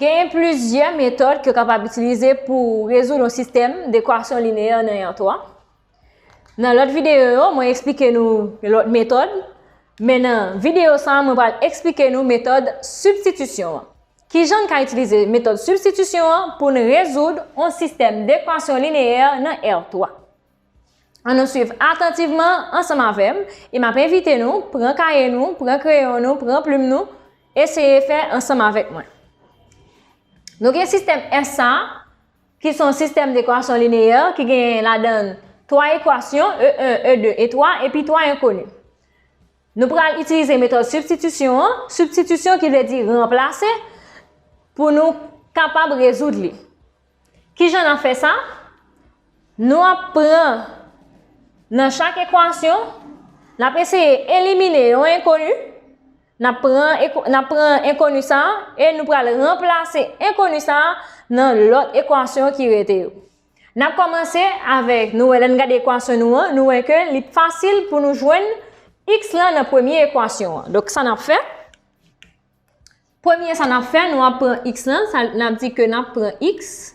Genyen plizyè metòd ke w kapab itilize pou rezoud yon sistèm dekwasyon lineyè nan yon to. Nan lòt videyo yo, mwen eksplike nou lòt metòd, men nan videyo sa mwen pral eksplike nou metòd sibstitisyon an. Kijan n ka itilize metòd sibstitisyon an pou n rezoud yon sistèm dekwasyon lineyè nan R3? An nou suiv atantivman ansanm avè m e m ap envite nou pran kaye nou, pran kreyon nou, pran plim nou, eseye fè ansanm avèk mwen. Nou gen sistèm S sa a, ki son sistèm dekwasyon lineyè ki gen ladan 3 ekwasyon, E1, E2, E3, epi 3 enkoni. Nou pral itilize metòd sibstitisyon an, sibstitisyon ki vle di ranplase, pou nou kapab rezoud li. Ki jan n ap fè sa? Nou ap pran nan chak ekwasyon, n ap eseye elimine yon enkoni, n ap pran n ap pran enkoni sa a e nou pral ranplase enkoni sa a nan lòt ekwasyon ki rete yo. N ap kòmanse avèk, nou wè lè n gade ekwasyon nou an, nou wè ke li fasil pou nou jwenn x lan nan premye ekwasyon an. Donk sa n ap fè? Premye sa nap fè, nou ap pran x lan, sa nap di ke nap pran x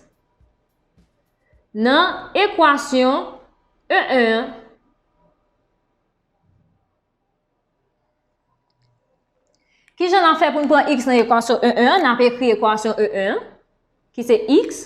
nan ekwasyon e 1 an, kijan nap fè pou n pran x nan ekwasyon e 1 an, nap ekri ekwasyon e 1 an, ki se x.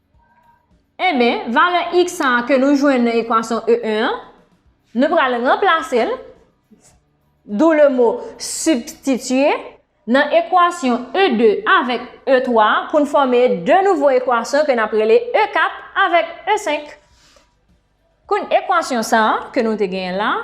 Enben, valè x sa a ke nou jwenn nan ekwasyon e 1 an, nou pral ranplase l, dou le mo substituer, nan ekwasyon e 2 avèk e 3 a pou n fòme 2 nouvo ekwasyon ke n ap rele e 4 avèk e 5. Kon ekwasyon sa a ke nou te genyen la a.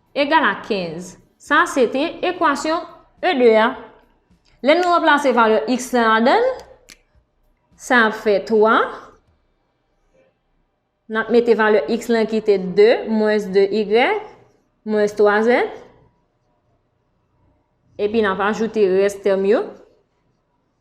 egal a 15. Sa a se te ekwasyon e 2 a. Lè nou ranplase valè x la ladan l, sa ap fè 3, n ap mete valè x lan ki te 2 mwens 2 y mwens 3 z, epi n ap ajoute rès tèm yo,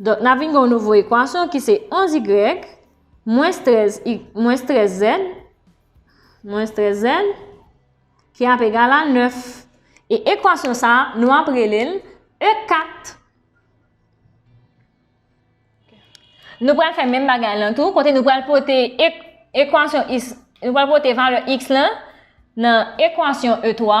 Donk, n ap vin gen yon nouvo ekwasyon ki se 11 y mwens 13 i mwens 13 zèd mwens 13 zèd ki ap egal a 9. E ekwasyon sa a, nou ap rele l E4. Nou pral fè menm bagay lan tou, kote nou pral pote ekwasyon is, nou pral pote valè x lan nan ekwasyon E3.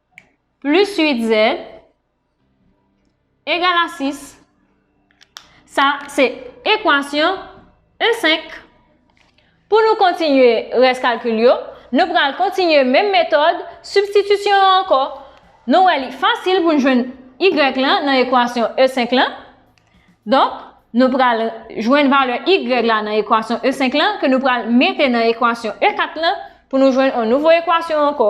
plis 8 zè egal a 6. Sa se ekwasyon 1 5. Pou nou kontinye rès kalkil yo, nou pral kontinye menm metòd sibstitisyon an ankò. Nou wè li fasil pou n jwenn y lan nan ekwasyon 1 5 lan. Donk, nou pral jwenn valè y la nan ekwasyon 1 5 lan ke nou pral mete nan ekwasyon 1 4 lan pou nou jwenn yon nouvo ekwasyon ankò.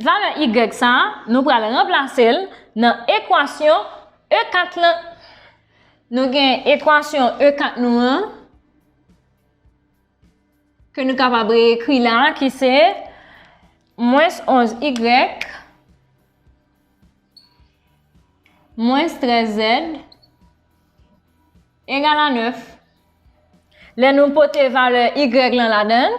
Valè y sa a, nou pral ranplase l nan ekwasyon e 4 lan. Nou gen ekwasyon e 4 nou an, ke nou kapab re-ekri la, ki se, mwens 11 y, mwens 13 z, egal a 9. Lè nou pote valè y lan ladan,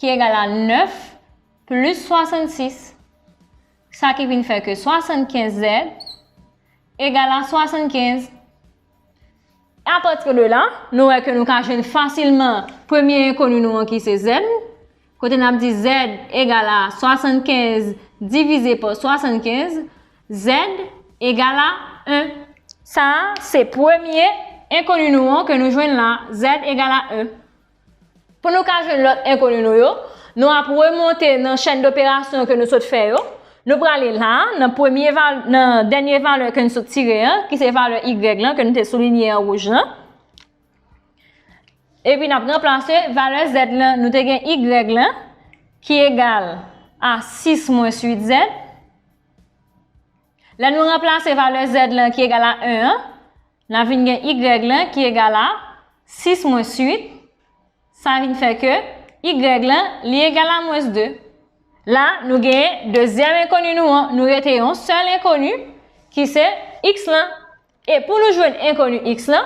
ki egal a 9 plis 66, sa ki vin fè ke 75 zèd egal a 75. A pati de la, nou wè ke nou ka jwenn fasilman premye enkoni nou an ki se zèd, kote nap di zèd egal a 75 divize pa 75, zèd egal a 1. Sa a, se premye enkoni nou an ke nou jwenn la, zèd egal a 1. Pou nou ka jwenn lòt enkoni nou yo, nou ap remonte nan chèn doperasyon ke nou sot fè yo. Nou prale la, nan dènye valè ke nou sot tire an, ki se valè y lan, ke nou te soulinye an wouj lan. Epi nap ranplase valè z lan, nou te gen y lan, ki egal a 6 mwens 8 z. Lè nou ranplase valè z lan ki egal a 1 an, N ap vin gen y lan ki egal a 6 mwens 8. Sa vin fè ke y lan li egal a mwens 2. La, nou genyen dezyèm enkoni nou an. Nou rete yon sèl enkoni ki se x lan. E pou nou jwenn enkoni x lan,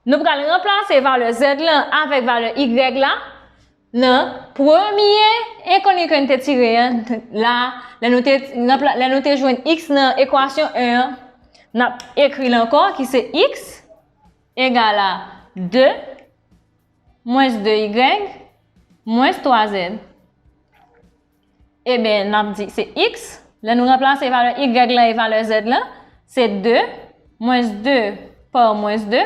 nou pral ranplase valè z lan avèk valè y la. Nan premye enkoni ke n te tire an, la, lè nou te, nan pla, lè nou te jwenn x nan ekwasyon 1 an, n ap ekri l ankò ki se x egal a 2 mwens 2 y mwens 3 z. Eben, n ap di se x, lè nou ranplase valè y lan e valè z lan, se 2 mwens 2 pa mwens 2,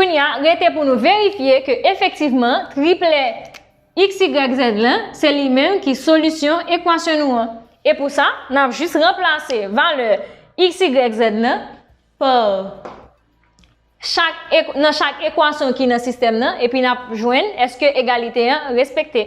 Kounya, rete pou nou verifye ke efektivman triplè XYZ lan se li menm ki solisyon ekwasyon nou an. E pou sa, n ap jis ranplase valè XYZ lan pa chak nan chak ekwasyon ki nan sistèm nan epi n ap jwenn èske egalite an respekte.